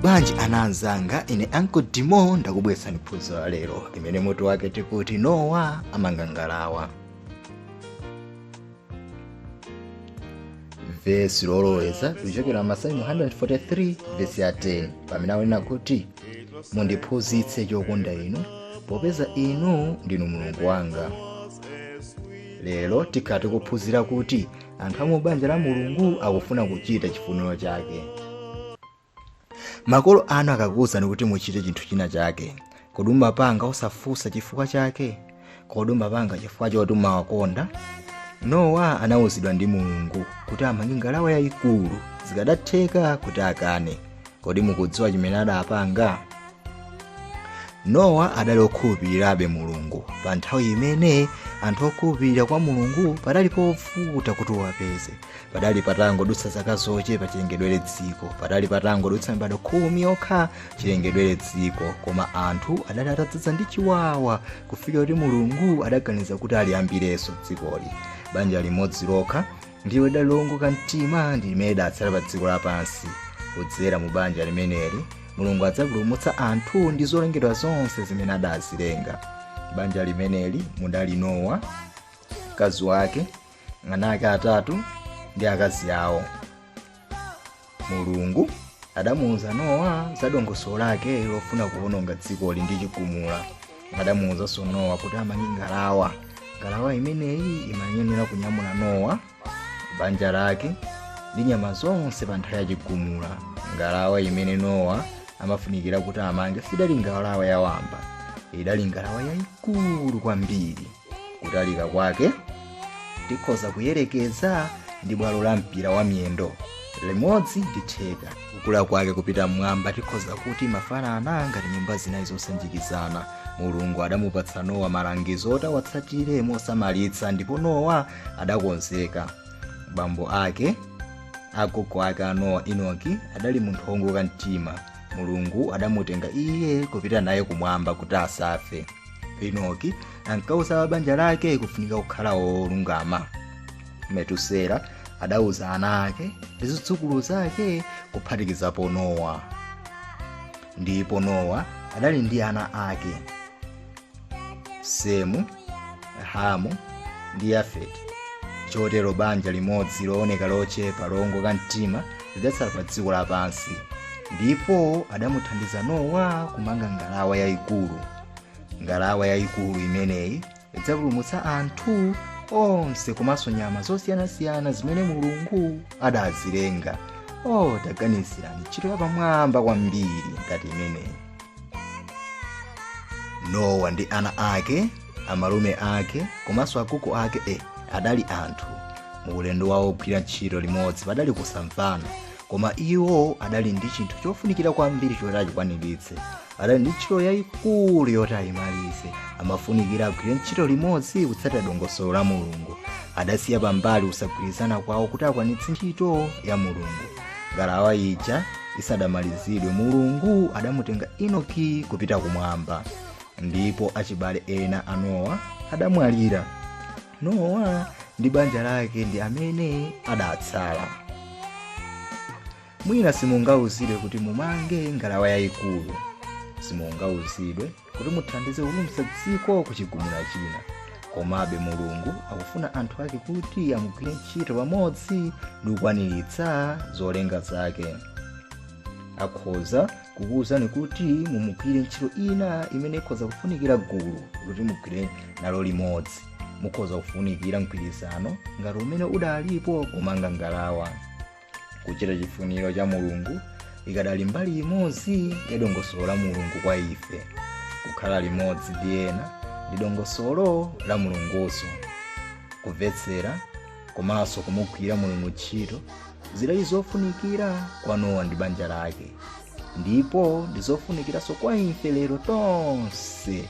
bwanji ana anzanga ine anko dimo ndakubweretsani phunziro la lero limene mutu wake tikuti nowa amanga ngalawa vesi loloweza likuchokera masalimo 143 vesi ya 10 pamene akunena kuti mundiphunzitse chokonda inu popeza inu ndinu mulungu wanga lero tikhala tikuphunzira kuti anthu a mu banja la mulungu akufuna kuchita chifuniro chake makolo anu akakuwuzani kuti muchite chinthu china chake kodi umapanga osafunsa chifukwa chake kodi umapanga chifukwa choti umawakonda nowa anawuzidwa ndi mulungu kuti amange ngalawa yayikulu zikanatheka kuti akane kodi mukudziwa chimene adapanga nowa adali okhulupirirabe mulungu pa nthawi imene anthu okhulupirira kwa mulungu padali povuta kuti uwapeze padali patangodutsa zaka zochepa chilengedwere dziko padali patangodutsa mibado khumi yokha chilengedwere dziko koma anthu adali atadzadza ndi chiwawa kufikira kuti mulungu adaganiza kuti aliyambirenso dzikoli banja limodzi lokha ndiwo lidali lowongoka mtima ndi limene lidatsala pa dziko lapansi kudzera mu banja limeneli mulungu adzapulumutsa anthu ndi zolengedwa zonse zimene adazilenga banja limeneli mudali nowa mkazi wake ana ake atatu ndi akazi awo mulungu adamuwuza nowa za dongosolo lake lofuna kuwononga dzikoli ndi chigumula adamuwuzanso nowa kuti amange ngalawa ngalawa imeneyi imayenera kunyamula nowa banja lake ndi nyama zonse pa nthawi ya chigumula ngalawa imene nowa amafunikira kuti amange sidali ngalawa yawamba idali ngalawa yayikulu kwambiri kutalika kwake tikhoza kuyerekeza ndi bwalo la mpira wa miyendo limodzi ndi theka kukula kwake kupita mmwamba tikhoza kuti imafanana ngati nyumba zinayi zosanjikizana mulungu adamupatsa nowa malangizo oti awatsatire mosamalitsa ndipo nowa adakonzeka bambo ake agogo ake a nowa enoki adali munthu woongoka mtima mulungu adamutenga iye kupita naye kumwamba kuti asafe enoki ankauza banja lake kufunika kukhala wolungama metusela adauza ana ake ndi zidzukulu zake kuphatikizapo nowa ndipo nowa adali ndi ana ake semu hamu ndi yafeti chotero banja limodzi looneka lochepa lowongoka mtima lidatsala pa dziko lapansi ndipo adamuthandiza nowa kumanga ngalawa yayikulu ngalawa yayikulu imeneyi idzapulumutsa anthu onse komanso nyama zosiyanasiyana zimene mulungu adazilenga taganizirani ntchito yapamwamba kwambiri ngati imeneyi nowa ndi ana ake amalume ake komanso agogo ake adali anthu mu ulendo wawo ogwira ntchito limodzi padali kusamvana koma iwo adali ndi chinthu chofunikira kwambiri choti achikwaniritse adali ndi ntchito yayikulu yoti ayimalize amafunikira agwire ntchito limodzi kutsatira dongosolo la mulungu adasiya pambali kusagwirizana kwawo kuti akwanitse ntchito ya mulungu ngalawa ija isadamalizidwe mulungu adamutenga enoki kupita kumwamba ndipo achibale ena a nowa adamwalira nowa ndi banja lake ndi amene adatsala mwina simungauzidwe kuti mumange ngalawa yayikulu simungauzidwe kuti muthandize kupulumutsa dziko ku chigumula china komabe mulungu akufuna anthu ake kuti amugwire ntchito pamodzi ndi kukwaniritsa zolinga zake akhoza kukuwuzani kuti mumugwire ntchito ina imene ikhoza kufunikira gulu kuti mugwire nalo limodzi mukhoza kufunikira mgwirizano ngati umene udalipo kumanga ngalawa kuchita chifuniro cha mulungu idakali mbali imodzi ya dongosolo la mulungu kwa ife kukhala limodzi ndi ena ndi dongosolo la mulungunso kumvetsera komanso kumugwira mulungu ntchito zidali zofunikira kwa nowa ndi banja lake ndipo ndi zofunikiranso kwa ife lero tonse